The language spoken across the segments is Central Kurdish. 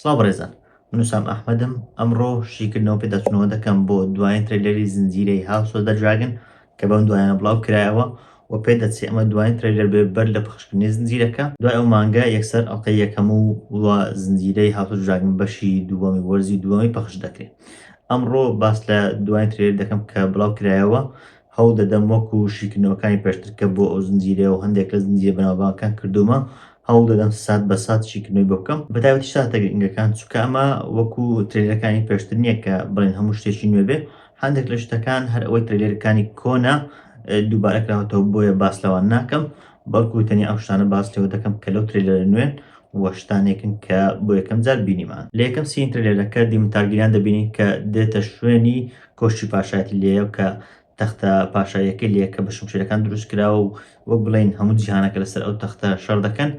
سڵاو بەڕێزان من وسام ئەحمەدم ئەمڕۆ شیکردنەوە پێداچوونەوە دەکەم بۆ دوایین ترەیلەری زنجیرەی هاوس ئۆف دە دراگن کە بەم دوایانە بڵاو کرایەوە و پێ دەچێ ئەمە دوایین ترەیلەر بێ بەر لە پەخشکردنی زنجیرەکە دوای ئەو مانگە یەکسەر ئەڵقەی یەکەم و زنجیرەی هاوس ئۆف دراگن بەشی دووەمی وەرزی دووەمی پەخش دەکرێ. ئەمڕۆ باس لە دوایین ترێلەر دەکەم کە بڵاو کرایەوە هەوڵ دەدەم وەکو شیکردنەوەکانی پێشتر کە بۆ ئەو زنجیرە و هەندێک لە زنجیرە بەناوبانگەکان کردومە هەوڵ دەدەم سات بە سات شیکردنەوەی بۆ بکەم بە تایبەتی ساتە گرنگەکان چونکە ئەمە وەکو ترێلەرەکانی پێشتر نییە کە بڵێن هەموو شتێکی نوێ بێ هەندێک لە شتەکان هەر ئەوەی ترێلەرەکانی کۆنە دووبارە کراوەتەوە بۆیە باس لەوان ناکەم بەڵکو تەنیا ئەو شتانە باس لێوە دەکەم کە لەو ترەیلەرە نوێن و شتانێکن کە بۆ یەکەم جار بینیمان لە یەکەم سین ترەیلەرەکە دیمن تارگیریان دەبینین کە دێتە شوێنی کۆشکی پاشایەتی لێیا و کە تەختە پاشاییەکەی لێیە کە بە شمشێرەکان دروست کراوە و وەک بڵێین هەموو جیهانەکە لەسەر ئەو تەختە شەڕ دەکەن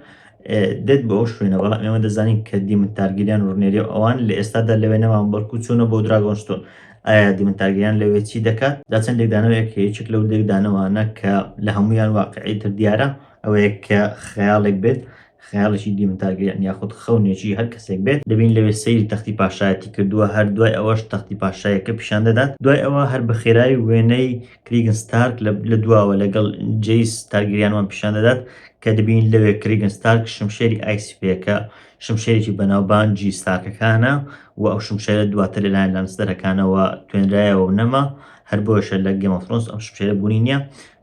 دێت بۆ ئەو شوێنە، بەڵام ئێمە دەزانین کە دیمن تارگیریان و ڕنێری و ئەوان لە ئێستادا لەوێ نەماون بەڵکو چوونە بۆ دراگۆن ستۆن ئایا دیمن تارگیریان لەوێ چی دەکات دا چەند لێکدانەوەیەک کە یەکێک لەو لێکدانەوانە کە لە هەمویان واقعی تر دیارە ئەوەیە کە خەیاڵێک بێت خەیاڵێکی دیمن تارگیریان یاخود خەونێکی هەر کەسێک بێت دەبین لەوێ سەیری تەختی پاشایەتی کردووە هەر دوای ئەوەش تەختی پاشایەکە پیشان دەدات دوای ئەوە هەر بە خێرایی وێنەی کریگن ستارک لە دواوە لەگەڵ جیس تارگیریانوان پیشان دەدات کە دەبینین لەوێ کریگن ستارک شمشێری ئایسی پێکە شمشێرێکی بەناوبانجی ستارکەکانە و ئەو شمشێرە دواتر لەلایەن لانستەرەکانەوە توێنرایەوە و نەما هەر بۆشە لە گەمەفرۆنس ئەم شمشێرە بوونی نییە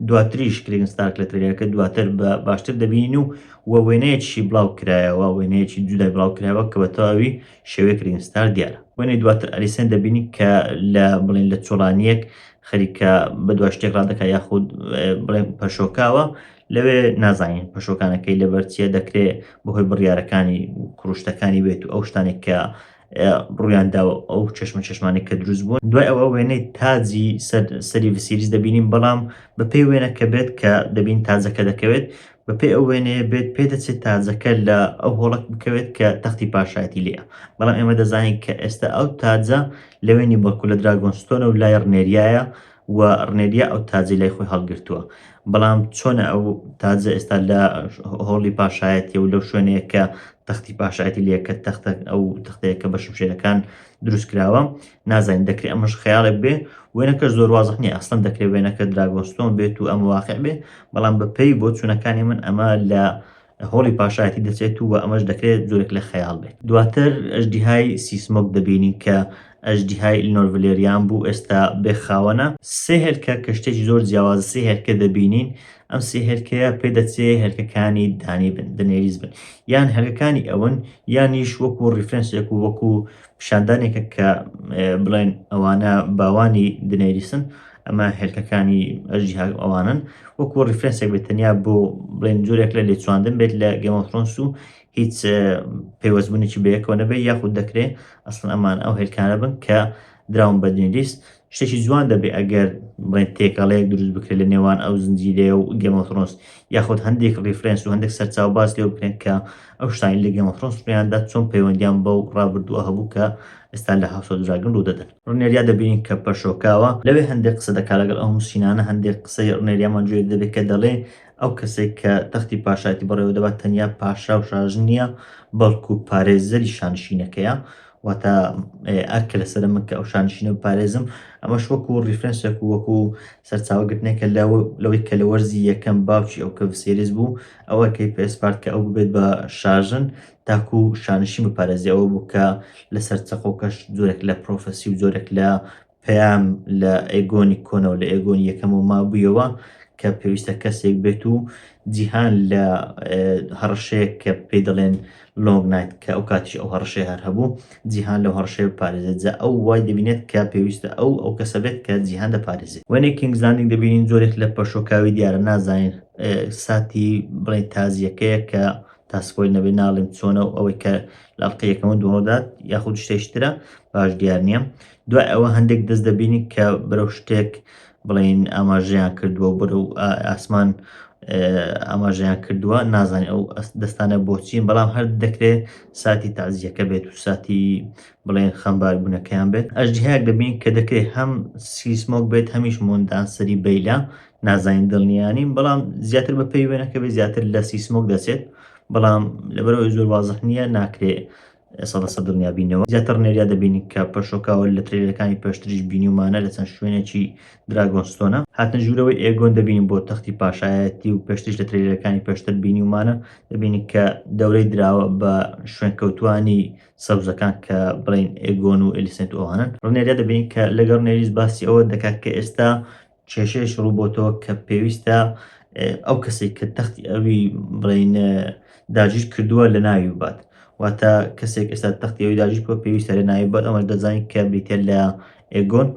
دواتریش کریگن ستارک لە ترێلەکە دواتر بە باشتر دەبینین و و وێنەیەکی بڵاو کرایەوە وێنەیەکی جودای بڵاو کرایەوە کە بە تەواوی شێوەی کریگن ستار دیارە وێنەی دواتر ئەلیسێن دەبینی کە لە بڵێن لە چۆڵانیەک خەریکە بەدوا شتێک ڕادەکا یاخود بڵێن پەشۆکاوە لەوێ نازانین پەشۆکانەکەی لەبەرچیە دەکرێ بەهۆی بڕیارەکانی کوروشتەکانی بێت و ئەو شتانێک کە ڕوویاندا و ئەو چشمە چشمانی کە دروست بوون دوای ئەوە وێنەی تاجی سەری سیریز دەبینین بەڵام بەپێی وێنەکە بێت کە دەبین تاجەکە دەکەوێت بەپێی ئەو وێنەیە بێت پێ دەچێت تاجەکە لە ئەو هۆڵک بکەوێت کە تەختی پاشایەتی لێە بەڵام ئێمە دەزانین کە ئێستا ئەو تاجە لە وێنی بەڵکو لە دراگۆنستۆنە و لای ڕنێریایە و ڕنێریا ئەو تاجەی لای خۆی هەڵگرتووە بەڵام چۆنە ئەو تاجە ئێستا لە هۆڵی پاشایەتی و لەو شوێنەیە کە تەختی پاشایەتی لە یەکە تەختە ئەو تەختەیە کە بە شمشێرەکان دروست کراوە نازانین دەکرێت ئەمەش خەیاڵێک بێ وێنەکە زۆر وازح نیە ئەسڵەن دەکرێت وێنەکە دراگۆستۆن بێت و ئەم واقع بێ بەڵام بەپێی بۆ چوونەکانی من ئەمە لە هۆڵی پاشایەتی دەچێت و ئەمەش دەکرێت جۆرێک لە خەیاڵ بێت دواتر ئەژدیهای سیسمۆک دەبینین کە ئەژدیهای ئیلنۆرڤلێریان بوو ئێستا بێخاوەنە سێ هێلکە کە شتێکی زۆر جیاواز سێ هێلکە دەبینین ئەم سێ هێلکەیە پێ دەچێ هێلکەکانی دانی بن دنێریز بن یان هەلکەکانی ئەون یانیش وەکو ڕیفرەنسێک و وەکو پیشاندانێکە کە بڵێن ئەوانە باوانی دنێریسن ئەمە هێلکەکانی ئەژی ئەوانن وەکو ریفرەنسێک بێت تەنیا بۆ بڵێن جۆرێک لە لێچواندن بێت لە گەمەفرۆنس و هیچ پێوەستبوونێکی بەیەکەوە نەبێت یاخود دەکرێت ئەسڵ ئەمان ئەو هێلکانە بن کە دراون بە دنێریست شتێکی جوان دەبێ ئەگەر بڵێن تێکەڵەیەک دروست بکرێت لە نێوان ئەو زنجیرەیە و گەمەفرۆنس یاخود هەندێک ڕیفرەنس و هەندێک سەرچاو باز لێ بکرێن کە ئەو شتانی لە گەمەفرۆنس ڕویاندا چۆن پەیوەندیان بەو ڕابردووە هەبوو کە ئێستا لە هاوسۆ دراگن ڕوو دەدەن ڕنێریا دەبینین کە پەشۆکاوە لەوێ هەندێک قسە دەکا لەگەڵ ئەو نووسینانە هەندێک قسەی ڕنێریامان جوێ دەبێت کە دەڵێ ئەو کەسێک کە تەختی پاشایەتی بەڕێوە دەبات تەنیا پاشا و شاژن نییە بەڵکو پارێزەری شانشینەکەیە واتە ئەرکە لەسەر من کە ئەو شانشینە بپارێزم ئەمەش وەکو ریفرەنسێک و وەکو سەرچاوگرتنێکە لەوەی کە لە وەرزی یەکەم باوکی ئەو کە سێریز بوو ئەوە کەی پێسپارت کە ئەو ببێت بە شارژن تاکو شانشی بپارێزیەوە بوو کە لەسەر چەقۆکەش زۆرێک لە پرۆفسی و زۆرێک لە پەیام لە ئەیگۆنی کۆنەوە لە ئەیگۆنی یەکەمەوە مابوویەوە کە پێویستە کەسێک بێت و جیهان لە هەڕشەیەک کە پێی دەڵێن لۆنگ نایت کە ئەو کاتیش ئەو هەڕشەیە هەر هەبوو جیهان لە هەڕشەیە پارێزێت جا ئەو وای دەبینێت کە پێویستە ئەو ئەو کەسە بێت کە جیهان دەپارێزێت وێنەی کینگز لاندینگ دەبینین زۆرێک لە پەشۆکاوی دیارە نازانین ساتی بڵێن تازیەکەیە کە تاسپۆی نەبێ ناڵێم چۆنە و ئەوەی کە لاڵقەیەکەمە دوڕۆدات یاخود شتێشترە باش دیار نییە دوای ئەوە هەندێک دەست دەبینی کە بەرەو شتێک بڵین ئاماژەیان کردووە بەرەو ئاسمان ئاماژەیان کردووە نازانانی ئەو دەستانە بۆچین بەڵام هەر دەکرێت ساتی تازیەکە بێت و ساتی بڵێن خەمبار بوونەکەیان بێت ئەژدهەیەک دەبین کە دەکرێت هەم سیسمۆک بێت هەمیش مندان سەری بیلا نازانین دڵنیانین بەڵام زیاتر بە پێی وێنەکە بێت زیاتر لە سیسمۆک دەچێت بەڵام لەبەرەوەی زۆر وازح نییە ناکرێت ئێستا لە سەر دڵنیابینەوە زیاتر ڕنێریا دەبینین کە پەشۆکاوە لە ترێلەکانی پێشتریش بینیومانە لە چەند شوێنێکی دراگۆنستۆنە هاتنە ژوورەوەی ئێگۆن دەبینین بۆ تەختی پاشایەتی و پێشتریش لە ترێلەکانی پێشتر بینیومانە دەبینین کە دەورەی دراوە بە شوێنکەوتوانی سەوزەکان کە بڵین ئێگۆن و ئەلیسنت ئەوانن ڕنێریا دەبینین کە لەگەڵ نێریز باسی ئەوە دەکات کە ئێستا کێشەیەش ڕووبۆتەوە کە پێویستە ئەو کەسێک کە تەختی ئەوی بڵین داگیر کردووە لە ناوی بات واتە کەسێک ئێستا تەختی ئەوی داگیر کردووە پێویستە لە ناوی بات ئەمەش دەزانین کە بریتە لە ئێگۆن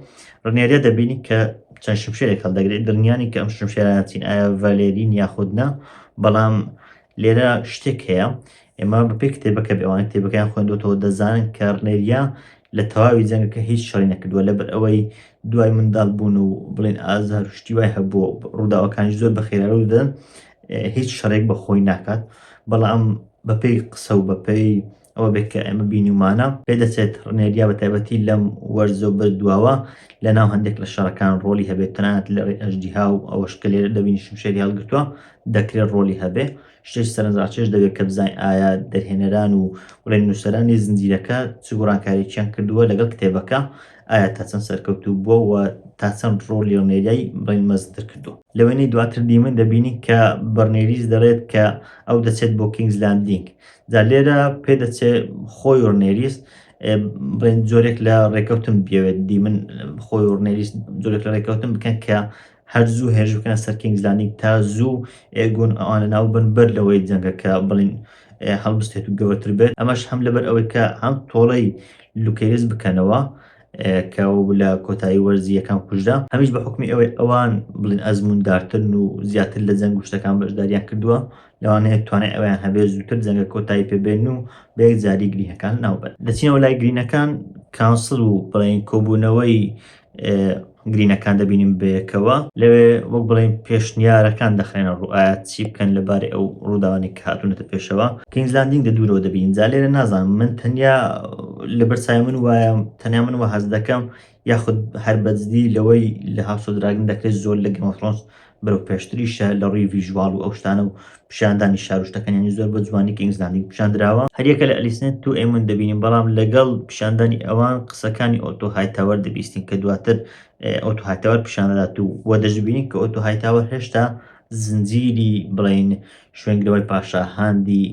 ڕنێرە دەبینی کە چەند شمشێرێک هەڵدەگرێت دڵنیانی کە ئەم شمشێرانەچین ئایا ڤالێرین یاخودنا بەڵام لێرە شتێک هەیە ئێمە بە پێی کتێبەکە بێ ئەوانەی کتێبەکەیان خوێندۆتەوە دەزانن کە ڕنێریا لە تەواوی جەنگەکە هیچ شەڕی نەکردووە لەبەر ئەوەی دوای منداڵ بوون و بڵێن ئازار و شتی وای هەبووە ڕووداوەکانی زۆر بە خێرارو دەدەن هیچ شەڕێک بە خۆی ناکات بەڵام بەپێی قسە و بەپێی ئەوە بێت کە ئێمە بینیمانە پێدەچێت ڕنێریا بە تایبەتی لەم وەرزە و بردواوە لە ناو هەندێک لە شەڕەکان ڕۆلی هەبێت تەنانەت لە ڕێ ئەژدیها و ئەوەش کە لێرە دەبینی شمشێری هەڵگرتووە دەکرێت ڕۆلی هەبێ شتێکی سەرنجڕاکێش دەبێت کە بزانین ئایا دەرهێنەران و بڵێن نووسەرانی زنجیرەکە چ گۆڕانکاریکیان کردووە لەگەڵ کتێبەکە ئایا تا چەند سەرکەوتوو بووە و تا چەند ڕۆڵی ڕنێریای بڵێن مەزنتر کردووە لەوێنەی دواتر دیمن دەبینین کە بەڕنێریس دەڵێت کە ئەو دەچێت بۆ کینگز لاندینگ جا لێرە پێدەچێت خۆی ڕنێریس بڵێن جۆرێک لە ڕێکەوتن بێت دیمن خۆی ڕنێریس جۆرێک لە ڕێکەوتن بکەن کە هەر زوو هێرش بکەن سەر کینگز لاندینگ تا زوو ئێگۆن ئەوانە ناو بن بەر لەوەی جەنگەکە بڵین هەڵبستێت و گەورەتر بێت ئەمەش هەم لەبەر ئەوەی کە هەم تۆڵەی لوکەیرس بکەنەوە کە لە کۆتایی وەرزی یەکەم کوژدا هەمیش بە حکمی ئەوەی ئەوان بڵین ئەزموندارترن و زیاتر لە جەنگ گوشتەکان بەشداریان کردووە لەوانەیە توانای ئەویان هەبێت زووتر جەنگە کۆتایی پێبێن و بەیەک جاری گرینەکان ناوبەن دەچینەوە لای گرینەکان کانسل و بڵین کۆبوونەوەی گرینەکان دەبینین بەیەکەوە لەوێ وەک بڵێن پێشنیارەکان دەخێنە ڕوو ئایا چی بکەن لەبارەی ئەو ڕووداوانی کە هاتوونەتە پێشەوە کینگزلاندینگ دە دوورەوە دەبین جا لێرە نازانم من تەنیا لە بەرچای من وایە تەنیا من وە هەز دەکەم یاخود هەر بەجدی لەوەی لە هاوسۆ دراگن دەکرێت زۆر لە گەمەفرۆنس بەرەو پێشتریشە لە ڕووی ڤیژواڵ و ئەو شتانە و پیشاندانی شار و شتەکانیانی زۆر بە جوانی کینگز لاندینگ پیشاندراوە هەریەکە لە ئەلیسنێت تو ئێمون دەبینین بەڵام لەگەڵ پیشاندانی ئەوان قسەکانی ئۆتۆ هایتاوەر دەبیستین کە دواتر ئۆتۆ هایتاوەر پیشاندەدات و وە دەشبینین کە ئۆتۆ هایتاوەر هێشتا زنجیری بڵین شوێنگرەوەی پاشا هاندی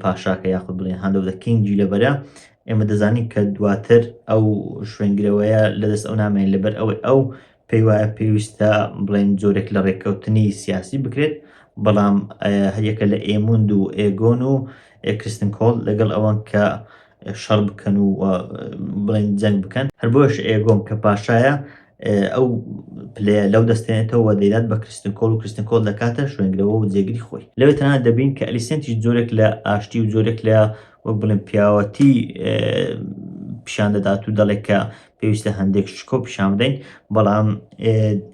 پاشاکە یاخود بڵێن هاندۆ دە کینگی لەبەرە ئێمە دەزانین کە دواتر ئەو شوێنگرەوەیە لەدەست ئەو نامێن لەبەر ئەوەی ئەو پێی وایە پێویستە بڵێن جۆرێک لە ڕێککەوتنی سیاسی بکرێت بەڵام هەریەکە لە ئێموند و ئێگۆن و ئێکستن کۆڵ لەگەڵ ئەوان کە شەڕ بکەن و بڵێن جەنگ بکەن هەر بۆش ئێگۆم کە پاشایە ئەو پلێ لەو دەستێنێتەوە دەیدات بە کرستن کۆل و کرستن کۆل دەکاتە شوێنگرەوە و جێگری خۆی لەوێ تەنها دەبین کە ئەلیسنتی جۆرێک لە ئاشتی و جۆرێک لە وەک بڵێن پیاوەتی پیشان دەدات و دەڵێک کە پێویستە هەندێک شکۆ پیشان بدەین بەڵام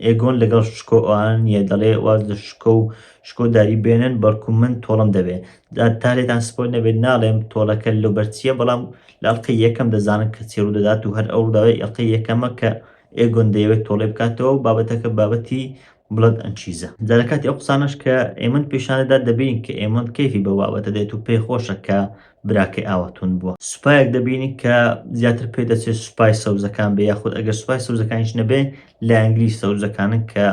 ئێگۆن لەگەڵ شکۆ ئەوان نیە دەڵێ واز لە شکۆ و شکۆ داری بێنن بەڵکو من تۆڵم دەبێ تا لێتان سپۆل نەبێت ناڵێم تۆڵەکە لە بەرچیە بەڵام لە ئەڵلقەی یەکەم دەزانن کە چێڕوو دەدات و هەر ئەو ڕداوای ئەڵلقەی یەکەمە کە ئێگۆن دەیەوێت تۆڵێ بکاتەوە بابەتەکە بابەتی بڵێت ئەن چیزە. جا لە کاتی ئەو قسانەش کە ئێمند پێشانی دات دەبینین کە ئێمند کەیفی بەو بابەتە دێت و پێی خۆشە کە براکەی ئاوا توند بووە. سوپایەک دەبینین کە زیاتر پێی دەچێت سوپای سەوزەکان بێ یاخود ئەگەر سوپای سەوزەکانیش نەبێ لایەنگری سەوزەکانن کە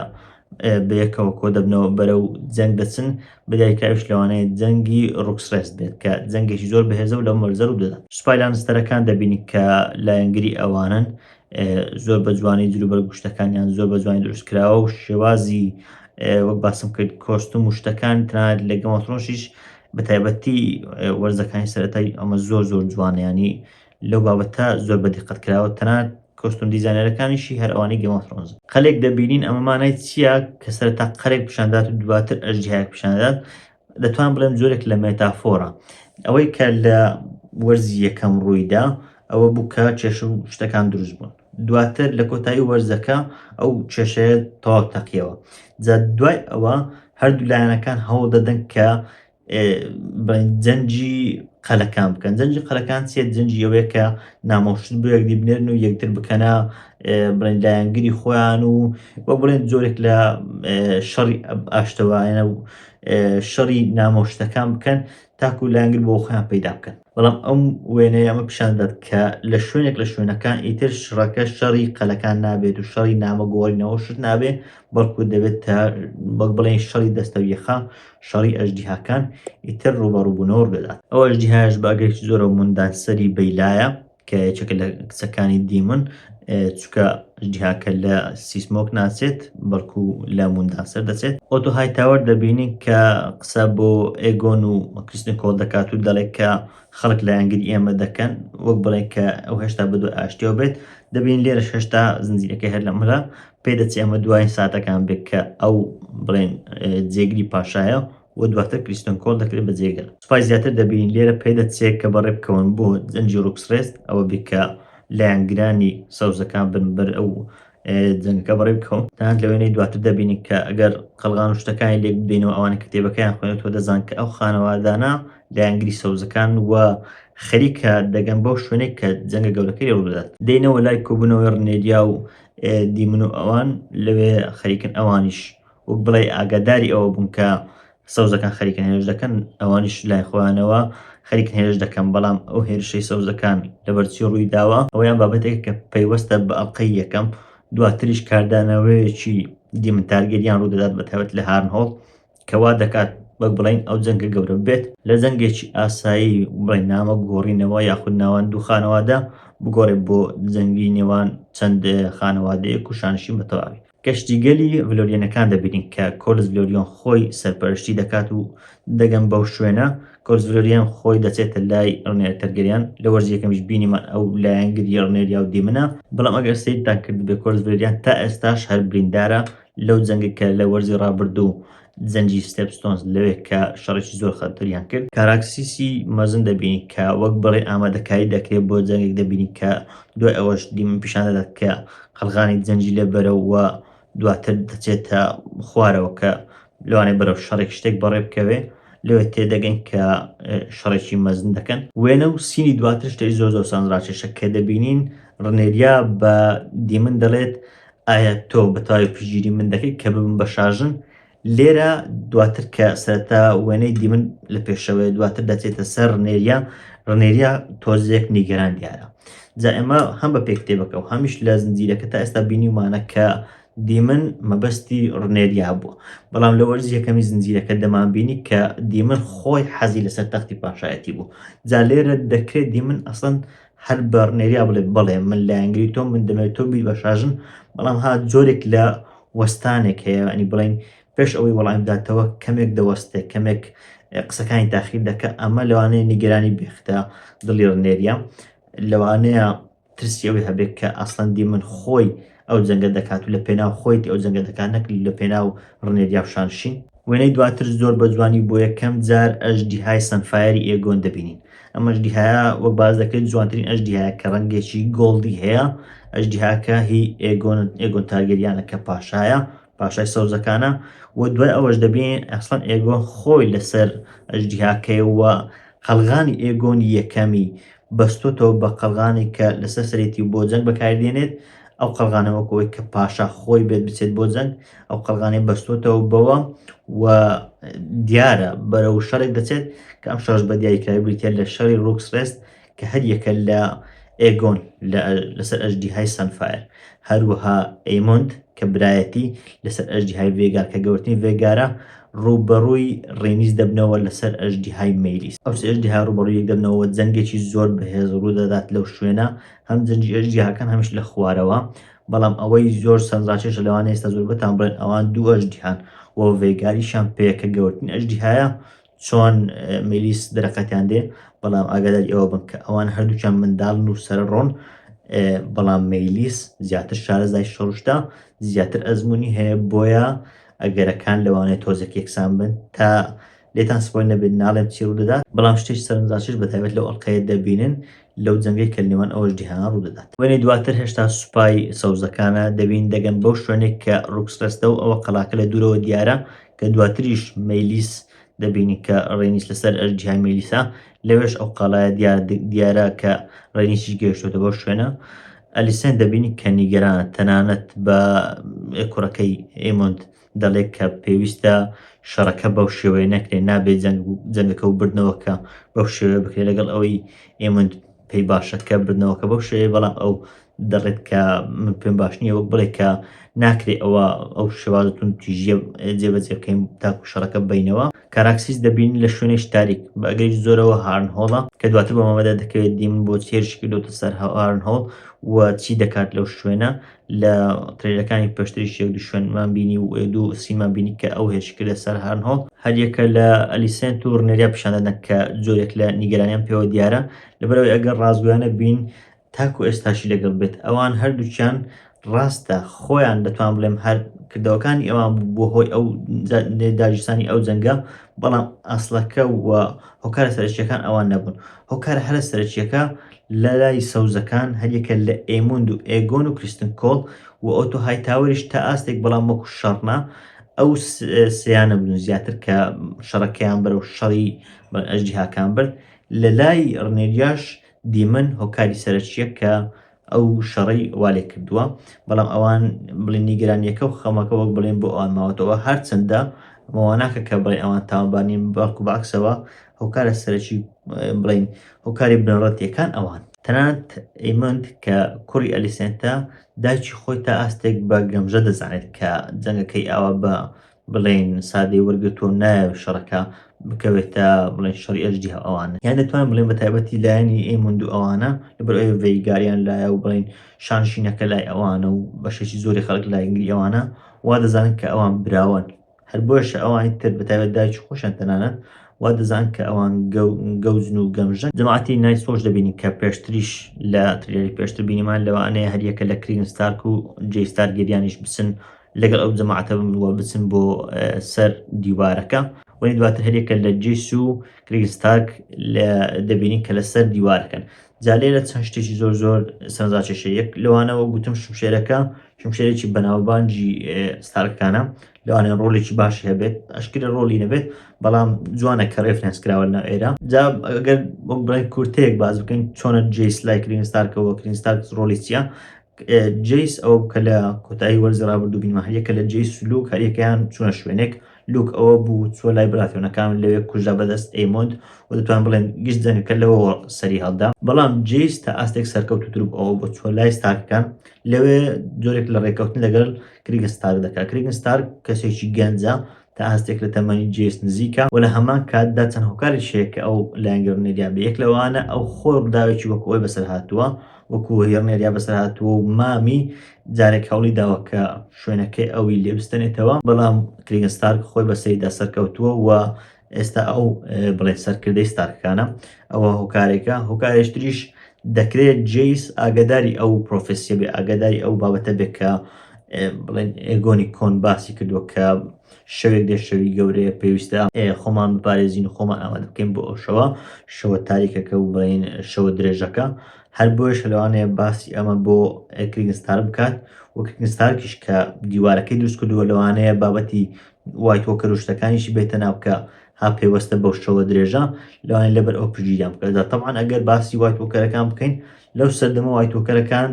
بە یەکەوە کۆ دەبنەوە بەرەو جەنگ دەچن، بە دایکاویش لەوانەیە جەنگی ڕوکسڕێس بێت کە جەنگێکی زۆر بەهێزە و لەو مەرزەرو دەدەن. سوپای لانستەرەکان دەبینین کە لایەنگری ئەوانن زۆر بە جوانی جلو بەرگشتەکانیان زۆر بە جوانی دروست کراوە و شێوازی وەک باسم کرد کۆستم و شتەکان تەنانەت لە گەمەترۆشیش بە تایبەتی وەرزەکانی سەرەتای ئەمە زۆر زۆر جوانیانی لەو بابەتە زۆر بە دیقەت کراوە تەنات کۆستم دیزانەرەکانیشی هەر ئەوانی گەمەترۆنز قەلێک دەبینین ئەمەمانای چییە کە سەرتا قەرێک پیشاندات و دواتر ئەژدیهاک پیشاندات دەتوانم بڵێم جۆرێک لە مێتافۆرە ئەوەی کە لە وەرزی یەکەم ڕوویدا ئەوە بوو کە کێشە و شتەکان دروست بوون دواتر لە کۆتایی وەرزەکە ئەو کێشەیە تەواو تەقیەوە جا دوای ئەوە هەردوو لایەنەکان هەوڵ دەدەن کە جەنجی قەلەکان بکەن جەنجی قەلەکان چێت جەنجی ئەوەیە کە نامۆشت بۆ یەکدی بنێرن و یەکتر بکەنە بڵێن لایەنگری خۆیان و بۆ بڵێن جۆرێک لە شەڕی ئاشتەوایە و شەڕی نامۆ شتەکان بکەن تاکو لایەنگر بۆ خۆیان پەیدا بکەن بەڵام ئەم وێنەیە ئەمە پیشان دەدات کە لە شوێنێک لە شوێنەکان ئیتر شڕەکە شەڕی قەلەکان نابێت و شەڕی نامەگۆڕینەوە شت نابێ بەڵکو دەبێت تا بەک بڵێن شەڕی دەستە یەخا شەڕی ئەژدیهاکان ئیتر ڕوبەڕوبوونەوە دەدات ئەو ئەژدیهاش باگەی زۆرە منداسەری بەیلایە کە یەکێکە لە کچەکانی دیمن چکە جیهاکە لە سیسمۆک ناچێت بەڵکو لە موندا سەر دەچێت ئۆتۆ هایتاوەر دەبینین کە قسە بۆ ئێگۆن و کریستن کۆڵ دەکات و دەڵێت کە خەڵک لایەنگری ئێمە دەکەن وەک بڵێن کە ئەو هێشتا بە دوای ئاشتیەوە بێت دەبین لێرە هێشتا زنجیرەکە هەر لەمرە پێدەچێ ئەمە دوای ساتەکان بێت کە ئەو بڵێن جێگری پاشایە و دواتر کریستۆن کۆل دەکرێت بە جێگر سوپای زیاتر دەبینین لێرە پەیدە چێک کە بەڕێ بکەون بۆ جەنگی ڕوکسڕێست ئەوە بێت کە لایەنگرانی سەوزەکان بن بەر ئەو جەنگەکە بەڕێ بکەون تەنانەت لە وێنەی دواتر دەبینین کە ئەگەر قەلغان و شتەکانی لێک بدەینەوە ئەوانە کتێبەکەیان خوێنێتەوە دەزان کە ئەو خانەوادانە لایەنگری سەوزەکان و خەریکە دەگەن بەو شوێنێک کە جەنگە گەورەکەی ڕوودات دێنەوە لای کۆبوونەوەی ڕنێریا و دیمن و ئەوان لەوێ خەریکن ئەوانیش وەک بڵێی ئاگاداری ئەوە بوون کە سەوزەکان خەریکن هێرش دەکەن ئەوانیش لای خۆیانەوە خەریکن هێرش دەکەن بەڵام ئەو هێرشەی سەوزەکان لەبەرچی ڕووی داوە ئەویان بابەتێک کە پەیوەستە بە ئەڵلقەی یەکەم دواتریش کاردانەوەیەکی دیمتارگەریان ڕوودەدات بە تایبەت لە هارنهۆڵ کەوا دەکات وەک بڵین ئەو جەنگە گەورە بێت لە جەنگێکی ئاسایی بڵێ نامە گۆڕینەوە یاخود ناوان دوو خانەوادە بگۆڕێ بۆ جەنگی نێوان چەند خانەوادەیەک و شانشین بە تەواوی. کەشتیگەلی ڤلۆریەنەکان دەبینین کە کۆلس ڤلۆریۆن خۆی سەرپەرشتی دەکات و دەگەن بەو شوێنە کۆلس ڤلۆریان خۆی دەچێتە لای ڕنێر تەرگەریان لە وەرزی یەکەمیش بینیمان ئەو لایەنگری ڕنێریا و دیمنە بەڵام ئەگەر سەیرتان کردبێ کۆلس ڤلۆریان تا ئێستاش هەر بریندارە لەو جەنگە کە لە وەرزی ڕابردوو زەنجی ستێپ ستۆنز لەوێ کە شەڕێکی زۆر خەتەریان کرد کاراکسیسی مەزن دەبینی کە وەک بڵێ ئامادەکاری دەکرێت بۆ جەنگێک دەبینی کە دوای ئەوەش دیمن پیشان دەدات کە قەلغانی زەنجی لێ بەرەوە دواتر دەچێتە خوارەوە کە لەوانێ بەرەو شەڕێک شتێک بەڕێ بکەوێ لەوێ تێدەگەن کە شەڕێکی مەزن دەکەن وێنە و سینی دواتر شتەی زۆر زۆر سانراکێشە کە دەبینین ڕنێریا بە دیمن دەڵێت ئایا تۆ بە تەواوی پشتگیری من دەکەی کە ببم بە شاژن؟ لێرە دواتر کە سەرەتا وێنەی دیمن لە پێشەوەی دواتر دەچێتە سەر ڕنێریا ڕنێریا تۆزێک نیگەران دیارە جا ئێمە هەم بە پێکتێبەکە و هەمیش لە زنجیرەکە تا ئێستا بینیمانە کە دیمن مەبەستی ڕنێریا بووە بەڵام لە وەرز یەکەمی زنجیرەکە دەمان بینی کە دیمن خۆی حەزی لەسەر تەختی پاشایەتی بوو جا لێرە دەکرێت دیمن ئەسڵەن هەر بە ڕنێریا بڵێ بەڵێ من لایەنگری تۆم من دەمەوێت تۆ بیت بە شاژن بەڵام ها جۆرێک لە وەستانێک هەیە ئەنی بڵین پێش ئەوەی وەڵام بداتەوە کەمێک دەوەستێ کەمێک قسەکانی تاخیر دەکە ئەمە لەوانەیە نیگەرانی بێختە دڵی ڕنێریە لەوانەیە ترسی ئەوەی هەبێت کە ئاسلندی من خۆی ئەو جەنگە دەکات و لە پێناو خۆیەتی ئەو جەنگە دەکات نەک لە پێناو ڕنێریا و شانشین. وێنەی دواتر زۆر بە جوانی بۆ یەکەم جار ئەژدیهای سەنفایەری ئێگۆن دەبینین. ئەم ئەژدیهایە وەک باس دەکرێت جوانترین ئەژدیهایە کە ڕەنگێکی گۆڵدی هەیە. ئەژدیهاکە هی ئێگۆنن، ئێگۆن تارگێریانە کە پاشایە پاشای سەوزەکانە و دوای ئەوەش دەبینین ئەسڵەن ئێگۆن خۆی لەسەر ئەژدیهاکەیە و قەڵغانی ئێگۆنی یەکەمی بەستۆتەوە بە قەڵغانێک کە لەسەر سەرێتی و بۆ جەنگ بەکاری دێنێت ئەو قەڵغانە وەکەوەی کە پاشا خۆی بێت بچێت بۆ جەنگ ئەو قەڵغانێ بەستۆتەوە بەوە و دیارە بەرەو شەڕێک دەچێت کە ئەم شەڕش بە دیاریکراوی بریتە لە شەڕی ڕوکسڕێست کە هەر یەکە لە ئێگۆن لە لەسەر ئەژدیهای سانفایر، هەروەها ئەیمۆند کە برایەتی لەسەر ئەژدیهای ڤێگار کە گەورەترین ڤێگارە، ڕووبەڕووی ڕێنیس دەبنەوە لەسەر ئەژدیهای مەیلیس. ئەو سێ ئەژدیها ڕووبەڕووی یەک دەبنەوە و جەنگێکی زۆر بەهێز ڕوو دەدات لەو شوێنە، هەم جەنگی ئەژدیهاکان هەمیش لە خوارەوە، بەڵام ئەوەی زۆر سەرنجڕاکێشە لەوانەیە ئێستا زۆربەتان بڵێن ئەوان دوو ئەژدیهان و ڤێگاریشیان پێیە کە گەورەترین ئەژدیهایە، چۆن میلیس درەقەتیان دێ بەڵام ئاگاداری ئەوە بن کە ئەوان هەردووچان منداڵن و سەر ڕۆن بەڵام میلیس زیاتر شارەزای شەڕشتا زیاتر ئەزمموی هەیە بۆیە ئەگەرەکان لەوانێت تۆزێک یەکسان بن تا لێتان سپۆی نەبێت ناڵێم چی ڕوو دەدات بەڵام شتێک سەرنجڕاکێش بە تایبەت لەو ئەڵقەیە دەبینن لەو جەنگەی کە لەنێوان ئەو ئەژدیهانە ڕوودەدات. وێنەی دواتر هێشتا سوپای سەوزەکانە دەبین دەگەن بەو شوێنەی کە ڕوکس ڕێستە و ئەوە قەلاکە لە دوورەوە دیارە کە دواتریش مەیلیس دەبینین کە ڕێنیس لەسەر ئەژدیهای مەیلیسە لەوێش ئەو قەڵایە دیار دیارە کە ڕێنیسیش گەیشتوتە بەو شوێنە ئەلیسێن دەبینین کە نیگەرانە تەنانەت بە کوڕەکەی ئێمۆند دەڵێت کە پێویستە شەڕەکە بەو شێوەیە نەکرێت نابێت جەنگەکە و بردنەوەکە بەو شێوەیە بکرێت لەگەڵ ئەوەی ئێمە پێی باشەکە بردنەوەکە بەو شێوەیە بەڵام ئەو دەڵێت کە من پێم باش نییە وەک بڵێ کە ناکرێت ئەوە ئەو شێوازتون تیژە جێبەجێ بکەین تاکو شەڕەکە بینەوە کاراکسیس دەبین لە شوێنێک تاریک بەگەی زۆرەوە هارن هۆڵە کە دواتر بە مامەدا دەکەوێت دیم بۆ چێرشکردۆتە سەر هەوارن هۆڵ و چی دەکات لەو شوێنە لە ترێلەکانی پێشتریش یەک دوو شوێنمان بینی و دوو سیمان بینی کە ئەو هێرش کردە سەر هارنهۆڵ هەریەکە لە ئەلیسنت و ڕنێریا پیشاندەدەن کە جۆرێک لە نیگەرانیان پێوە دیارە لەبەرەوەی ئەگەر ڕازگویانە بین تاکو ئێستاشی لەگەڵ بێت ئەوان هەردووچیان ڕاستە خۆیان دەتوان بڵێم هەر کردەوەکانی ئەوان بۆ هۆی ئەو داگیرسانی ئەو جەنگە بەڵام ئەسلەکە و هۆکارە سەرچیەکان ئەوان نەبوون هۆکارە هەرە سەرچیەکە لە لای سەوزەکان هەریەکە لە ئێموند و ئێگۆن و کریستن کۆڵ و ئۆتۆ هایتاوەریش تا ئاستێک بەڵام وەکو شەڕ نا، ئەو سێیانە بوون زیاتر کە شەڕەکەیان بەرەو شەڕی بەن ئەژدیهاکان برد، لە لای ڕنێریاش دیمن هۆکاری سەرەکییە کە ئەو شەڕەی وا لێ کردووە، بەڵام ئەوان بڵێن نیگەرانییەکە و خەمەکە وەک بڵێن بۆ ئەوان ماوەتەوە، هەرچەندە ئەمە وا ناکا کە بڵێن ئەوان تاوانبار نین، بەڵکو بەعەکسەوە هۆکارە سەرەکی بڵێین هۆکاری بنەڕەتیەکان ئەوان. تەنانەت ئیمۆند کە کوڕی ئەلیسێنتە دایکی خۆی تا ئاستێک بە گەمژە دەزانێت کە جەنگەکەی ئاوا بە بڵێین سادەی وەرگتووە نایەوێت شەڕەکە بکەوێتە بڵێن شەڕی ئەژدی هەو ئەوانە یان دەتوان بڵێن بە تایبەتی لایەنی ئێموند و ئەوانە لەبەر ئەوێ ڤێیگاریان لایە و بڵین شانشینەکە لای ئەوانە و بەشێکی زۆری خەڵک لایگری ئەوانە وا دەزانن کە ئەوان براوەن هەر بۆیەشە ئەوانی تر بە تایبەت دایک و خۆشیان تەنانەت وا دەزان کە ئەوان گەوجن و گەمژن جەماعەتی نایت فۆش دەبینین کە پێشتریش لە تریلەری پێشتر بینیمان لەوانەیە هەریەکە لە کرین ستارک و جێ ستار گەریانیش بچن لەگەڵ ئەو جەماعەتە بووە بچن بۆ سەر دیوارەکە وەی دواتر هەریەکە لە جیس و کرین ستارک دەبینین کە لەسەر دیوارەکەن جا لێرە چەند شتێکی زۆر زۆر سەرزاکێشە یەک لەوانەوە گوتم شمشێرەکە شمشێرێکی بەناوبانجی ستارکانە لەوانێ ڕۆلێکی باشی هەبێت ئەشکرە ڕۆلی نەبێت بەڵام جوانە کە ڕێفرنس کراوە لە ئێرە جا ئەگەر بۆ بڵێن کورتەیەک باز بکەین چۆنە جیس لای کرین ستارکەوە کرین ستارک ڕۆلی چیە جیس ئەو کە لە کۆتایی وەرزڕابردوو بینمە هەریەکە لە جێی سلوک هەریەکەیان چونە شوێنێک لوک ئەوە بوو چۆ لای براتێنەکان لەوێ کوژە بەدەست ئەیمۆند و دەتوان بڵێن گشت جەنگەکە لەوەوە سەری هەڵدا بەڵام جیس تا ئاستێک سەرکەوتوتر بوو ئەوە بۆ چۆ لای ستارکەکان لەوێ جۆرێک لە ڕێککەوتن لەگەل کریگن ستارک دەکات کریگن ستارک کەسێکی گەنجە تا هەستێک لە تەمەنی جیس نزیکە و لە هەمان کاتدا چەند هۆکاری شەیە کە ئەو لایەنگرنێریا بە یەک لەوانە ئەو خۆی ڕداوێکی وەکو ئەوی بەسەر هاتووە وەکو هێڕنێریا بەسەر هاتووە و مامی جارێک هەوڵی داوە کە شوێنەکەی ئەوی لێ بستێنێتەوە بەڵام کریگن ستارک خۆی بە سەریدا سەرکەوتووە و ئێستا ئەو بڵێ سەرکردەی ستارکەکانە ئەوە هۆکارێکە هۆکارێشتریش دەکرێت جیس ئاگداری ئەو پرۆفسیە بێ ئاگداری ئەو بابەتە بێت کە بڵێن ئێگۆنی کۆن باسی کردووە کە شەوێک دێ شەوی گەورەیە پێویستە خۆمان بپارێزین و خۆمان ئامادە بکەین بۆ ئەو شەوە شەوە تاریکەکە و بڵین شەوە درێژەکە هەر بۆیەشە لەوانەیە باسی ئەمە بۆ کریگنستار بکات و کریگنستارکیش کە دیوارەکەی دروست کردووە لەوانەیە بابەتی وایت وۆکەر و شتەکانیشی بێتە ناو کە ها پەیوەستە بەو شەوە درێژە لەوانەیە لەبەر ئەو پشگیریان بکاتدا طبعا ئەگەر باسی وایت وۆکەرەکان بکەین لەو سەردەمە وایت وۆکەرەکان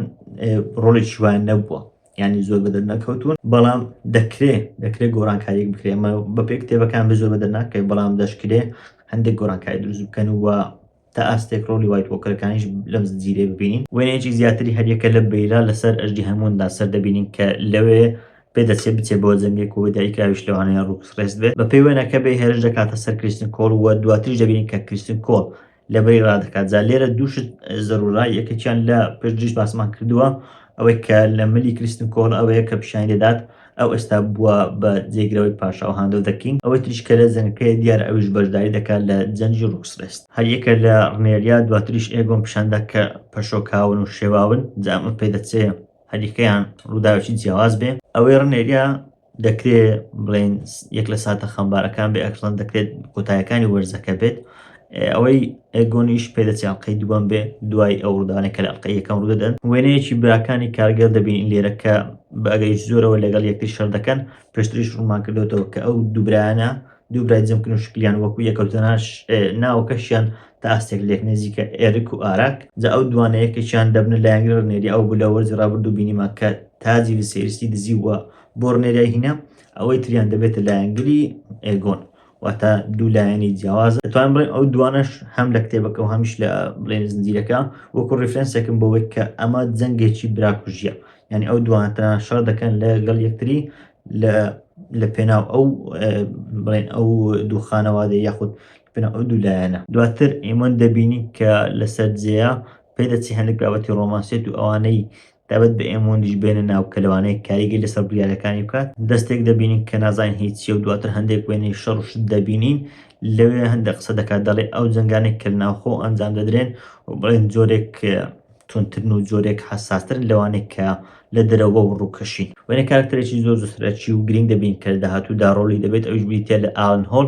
ڕۆڵی شوان نەبووە ینی زۆر بە دەرنەکەوتون بەڵام دەکرێ دەکرێت گۆڕانکاریک بکرێ ئەمە بە پێ کتێبەکان بە زۆر بە دەرناکەی بەڵام دەشکرێ هەندێک گۆڕانکاری دروست بکەن و تا ئاستێک ڕۆڵی وایت وۆکەرەکانیش لەم زنجیرەیە ببینین وێنەیەکی زیاتری هەریەکە لە بریرا لەسەر ئەژدی هەموندا سەر دەبینین کە لەوێ پێدەچێت بچێت بۆ جەنگێک و دایکراویش لەوانەیە ڕوکس ڕێست بێت بە پێی وێنەکە بێ هێرش دەکاتە سەر کریستن کۆڵ و دواتریش دەبینین کە کریستن کۆڵ لە بریرا دەکات جا لێرە دووشت زەرورە یەکێکیان لە پێشدریش باسمان کردووە ئەوەی کە لە ملی کریستن کۆڵ ئەوەیە کە پیشانی دەدات ئەو ئێستا بووە بە جێگرەوەی پاشا و هاندۆ دە کینگ ئەوەی تریش کە لە جەنگەکەی دیار ئەویش بەشداری دەکات لە جەنگی ڕوکسرێست هەر یەکە لە ڕنێریا دواتریش ئێگۆن پیشاندا کە پەشۆکاون و شێواون جا ئەمە پێدەچێ هەریەکەیان ڕووداوێکی جیاواز بێ ئەوەی ڕنێریا دەکرێ بڵێن یەک لە ساتە خەمبارەکان بێ ئەکسڵەن دەکرێت کۆتایەکانی وەرزەکە بێت ئەوەی ئێگۆنیش پێدەچێ ئەڵقەی دووەم بێ دوای ئەو ڕوودانە کە لە ئەڵقەی یەکەم ڕوو دەدەن وێنەیەکی براکانی کارگەر دەبین لێرە کە بە ئەگەری زۆرەوە لەگەڵ یەکتر شەر دەکەن پێشتریش ڕوومان کردوێتەوە کە ئەو دووبرایانە دووبرای جەمکن و شکلیان وەکو یەکەوتەناش ناوەکەشیان تا ئاستێک لێک نزیکە ئێرک و ئاراک جا ئەو دوانە یەکێکیان دەبنە لایەنگرە ڕنێری ئەو بوو لە وەرزی ڕابردوو بینیمان کە تاجی لە سێریستی دزی وە بۆ ڕنێریای هینا ئەوەی تریان دەبێتە لایەنگری ئێگۆن واتە دوو لایەنی جیاواز توان بڵێن ئەو دوانەش هەم لە کتێبەکە و هەمیش لە بڵێن زنجیرەکە وەکو ڕیفرەنسێکم بۆەوەی کە ئەمە جەنگێکی براکوژیە یعنی ئەو دوانتە شەڕ دەکەن لە گەڵ یەکتری لە لە پێناو ئەو بڵێن ئەو دوو خانەوادە یاخود پێناو ئەو دوو لایەنە دواتر ئێمە دەبینین کە لەسەر جێە پێدەچی هەندێک بابەتی ڕۆمانسێت و ئەوانەی تایبەت بە ئێمۆندیش بێنە ناو کە لەوانەیە کاریگەری لەسەر بڕیارەکانی بکات، دەستێک دەبینین کە نازانین هی چییە و دواتر هەندێک وێنەی شەڕ و شت دەبینین، لەوێ هەندێک قسە دەکات دەڵێ ئەو جەنگانەی کە لە ناوخۆ ئەنجام دەدرێن و بڵێن جۆرێک توندترن و جۆرێک حەساسترن لەوانەی کە لە دەرەوە و ڕووکەشین. وێنەی کارەکتەرێکی زۆر زۆر سەرەکی و گرینگ دەبینین کە لە داهاتوودا ڕۆڵی دەبێت ئەویش بریتییە لە ئالن هۆڵ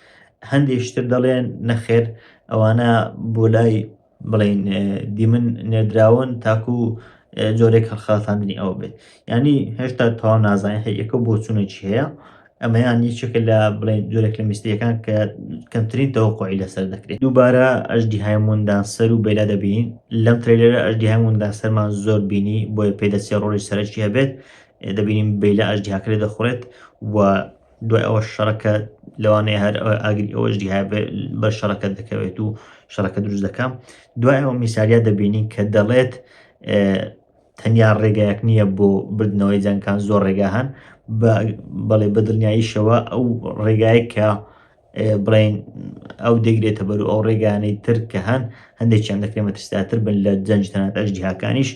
هەندێک شتر دەڵێن نەخێر ئەوانە بۆ لای بڵین دیمن نێدراون تاکو جۆرێک هەڵخەڵەتاندنی ئەوە بێت ینی هێشتا تەواو نازانین هەیەکە بۆ چونێکی هەیە ئەمەیان یەکێکە لە بڵێن جۆرێک لە میستریەکان کە کەمترین تەوەقعی لەسەر دەکرێت دووبارە ئەژدی هایموندان سەر و بەلا دەبین لەم ترێلەرە ئەژدی هایموندا سەرمان زۆر بینی بۆیە پێدەچێ ڕۆژی سەرکی هەبێت دەبینیم بەیلا ئەژدیاکرێ دەخورێت و دوای ئەوەش شەڕەکە لەوانەیە هەر ئاگری ئەوەش دیها بە شەڕەکە دەکەوێت و شەڕەکە دروست دەکەم دوای ئەوە میساریا دەبینین کە دەڵێت تەنیا ڕێگایەک نییە بۆ بردنەوەی جەنگکان زۆر ڕێگا هەن بەڵێ بەدڵنیاییشەوە ئەو ڕێگایە کە بڵێین ئەو دەگرێتە بەر و ئەو ڕێگانەی تر کە هەن هەندێکیان دەکرێن مەترسداتر بن لە جەنج تەنات ئەژدیهاکانیش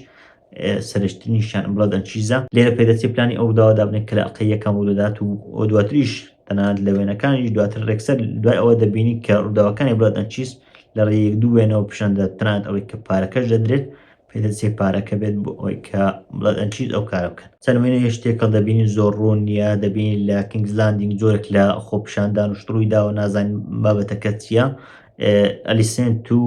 سرشتنیشان بڵدەن چیزە لێرە پێدەچێت پلانی ئەو داوا دابنێت کە لە ئەڵقە یەکەم ڕوودەدات و ئەو دواتریش تەنانەت لە وێنەکانیش دواتر ڕێکسەر دوای ئەوە دەبینی کە ڕووداوەکانی بڵدەن چیز لە ڕێ یەک دوو وێنەوە پیشاندە تەنانەت ئەوەی کە پارەکەش دەدرێت پێدە چێ پارەکە بێت بۆ ئەوەی کە بڵێت ئەنچیت ئەو کارە بکەن چەند وێنەیەش تێکەڵ دەبینین زۆر ڕوون نییە دەبینین لە کینگز لاندینگ زۆرێک لە خۆپیشاندان و شتڕووی داوە نازانین بابەتەکە چییە ئەلیسنت و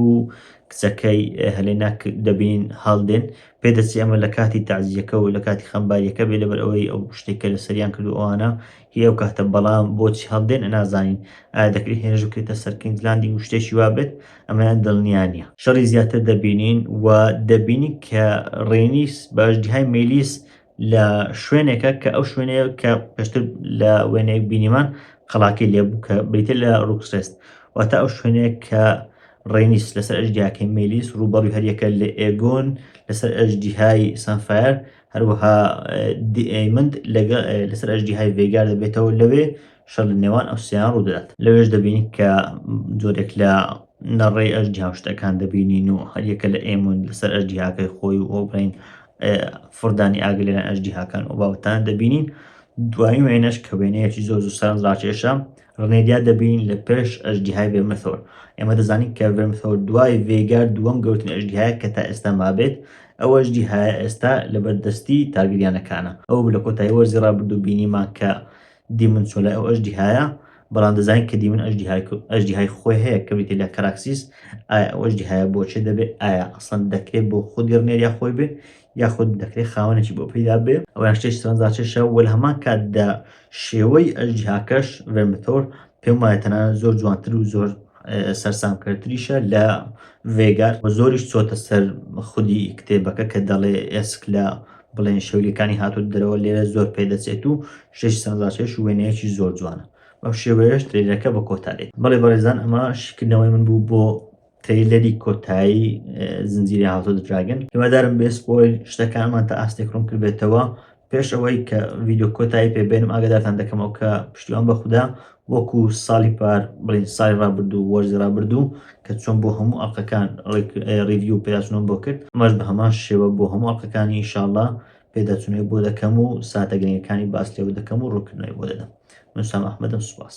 کچەکەی هەلێنا دەبین هەڵدێن پێ دەچێ ئەمە لە کاتی تازیەکە و لە کاتی خەمباریەکە بێ لەبەر ئەوەی ئەو شتێکە لە سەریان کردو ئەوانە هی ئەو کاتە بەڵام بۆچی هەڵدێن نازانین ئایا دەکرێت هێرش بکرێتە سەر کینگز لاندینگ و شتێکی وا بێت ئەمەیان دڵنیا نییە شەڕی زیاتر دەبینین و دەبینین کە ڕێنیس بە ئەژدیهای مەیلیس لە شوێنێکە کە ئەو شوێنەیە کە پێشتر لە وێنەیەک بینیمان قەڵاکەی لێبوو کە بریتە لە ڕوکسێست واتە ئەو شوێنەیە کە ڕێنیس لەسەر ئەژدیاکەی مەیلیس ڕووبەڕوی هەریەکە لە ئێگۆن لەسەر ئەژدیهای سانفایر هەروەها دیەیمەند لەسەر ئەژدیهای ڤێگار دەبێتەوە لەوێ شەڕ لە نێوان ئەو سێیان ڕوودەدات لەوێش دەبینین کە جۆرێک لە نەڕێی ئەژدیها و شتەکان دەبینین و هەریەکە لە ئێمون لەسەر ئەژدیهاکەی خۆی و ئۆبرین فردانی ئاگر لەلایەن ئەژدیهاکان و باوتان دەبینین دوایین وێنەش کە وێنەیەکی زۆر زوو سەرنجڕاکێشە ڕنێریا دەبین لە پێش ئەژدیهای ڤێرمثۆر ئێمە دەزانین کە ڤێرمثۆر دوای ڤێگار دووەم گەورترین ئەژدیهایە کە تا ئێستا مابێت ئەو ئەژدیهایە ئێستا لە بەردەستی تارگریانەکانە ئەو لە کۆتایی وەرزی ڕابردوو بینیمان کە دیمن چۆ لای ئەو ئەژدیهایە بەڵام دەزانین کە دیمن ئەژدیهای خۆی هەیە کە بریتە لە کەراکسیس ئایا ئەو ئەژدیهایە بۆچێ دەبێت ئایا ئەسڵەن دەکرێت بۆ خودی ڕنێریا خۆی بێ یاخود دەکرێت خاوەنێکی بۆ پێدا بێ ئەویان شتێک سەرنجڕاکێشە وەل هەمان کات دە شێوەی ئەژ جیهاکەش ڤێمتۆر پێم وایە تەنانەت زۆر جوانتر و زۆر سەرسامکردتریشە لە ڤێگار و زۆریش چۆتە سەر خودی کتێبەکە کە دەڵێ ئێسک لە بڵێن شەولیەکانی هاتوو دەرەوە لێرە زۆر پێدەچێت و شش سەنزاچێش و وێنەیەکی زۆر جوانە بەم شێوەیەش ترێلەکە بە کۆتا دێت بەڵێ بەڕێزان ئەمە شیکردنەوەی من بوو بۆ ترەیلەری کۆتایی زنجیری هاوسۆ دراگن هیوادارم بێ سپۆیل شتەکانمان تا ئاستێک ڕوون کردبێتەوە پێش ئەوەی کە ڤیددیو کۆتایی پێ بێنم ئاگدارتان دەکەمەوە کە پشتیوان بە خوددا وەکو ساڵی پار بڵین سای ڕابردوو وەرزی ڕابردوو کە چۆن بۆ هەموو ئەڵلقەکان ڕیڤیو پێداچنەوە بۆ کرد ئەمەش بە هەمان شێوە بۆ هەموو ئەڵلقەکانی ئیشاڵڵا پێداچنەوەی بۆ دەکەم و ساتە گرنگەکانی باس لێوە دەکەم و ڕوونکردنەوەی بۆ دەدەم من سام ئەحمەدم سوپاس